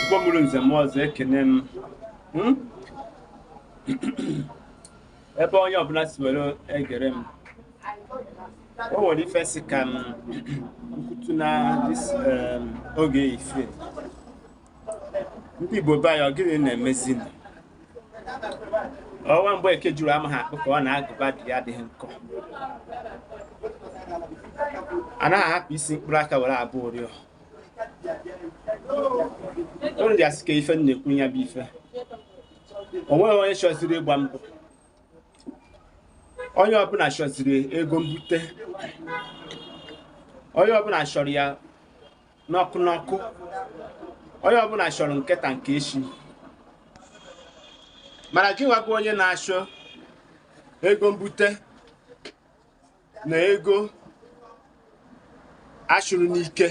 Igbo mụrụ nze mụọ ọzọ ekene m Hmm? ebe onye ọbụla si were egere m o nwere ife m sị ka m kwutu na this um, oge ife ndị Igbo be anyị ọ gịnị na-emezi nụ? ọ nwa Mgbeke juru amaha akpụ ka ọ na agụba di ya adịghị nkọ anaghị ahapụ isi mkpụrụ aka were agba ụrịọ unu dị asị ka ife m na-ekwu ya bụ ife o nweghị onye chọziri ịgba mbọ onye ọbụla chọziri ego mbute onye ọbụla chọrọ ya n'ọkụ n'ọkụ onye ọbụla chọrọ nke taa nke echi mana gị nwa bụ onye na-achọ ego mbute na ego achụrụ n'ike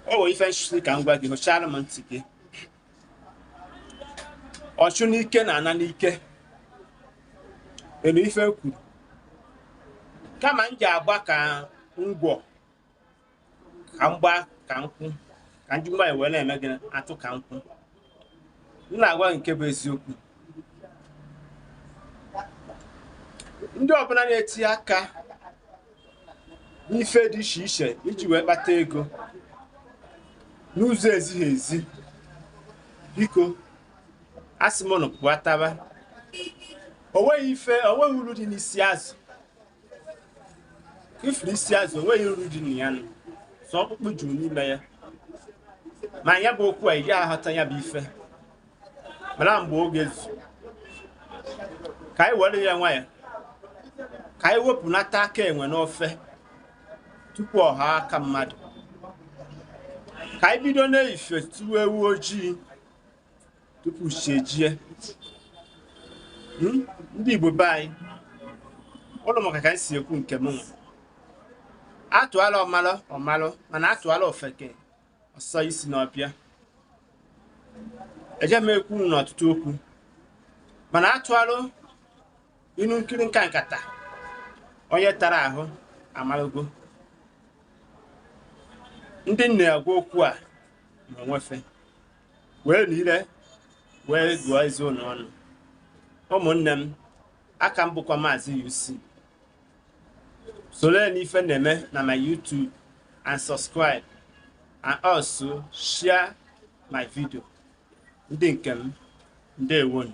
o nwere ife m sị ka m gwa gị hụchara m ntị gị ọchụ n'ike na-ana n'ike elu ife kwuru kama m je agba ka ngwọ ka m gbaa ka nkwụ ka ndị Igbo wee na-eme gị atụ ka nkwụ m na-agwa gị nke bụ eziokwu ndị ọbụla na-etinye aka n'ife dị iche iche iji wee kpata ego n'ụzọ ezighị ezi biko asị m unu pụtaba o nweghị ife o nweghị uru dị n'isi azụ ị fụrụ isi azụ o nweghị uru dị na ya nụ sọ ọkpụkpụ juru n'ime ya ma ya bụ okwu a ị gaghị aghọta ya bụ ife mana mgbe oge zu ka anyị were ya nwayọ ka anyị wepụnata aka enwe n'ofe tupu ọ ghọọ aka mmadụ ka anyị bido n'ife tuwe ewu ojii tupu chi ejie hmm? ndị Igbo be anyị unu makwa ka m si ekwu nke m atụalụ ọmalụ ọ malụ mana atụalụ ofeke ọ sọ isi n'ọfịa eje m ekwu n'ọtụtụ okwu mana atụalụ inu nkirika nkata onye tara ahụ amalụgo ndị m na-agwa okwu a ma onwe fe weenụ ile wee gụọ eze unu ọnụ ụmụnne m a ka m bụkwa maazị UC soro n'ife na-eme na my YouTube and subscribe and also share my video ndị nke m ndewonụ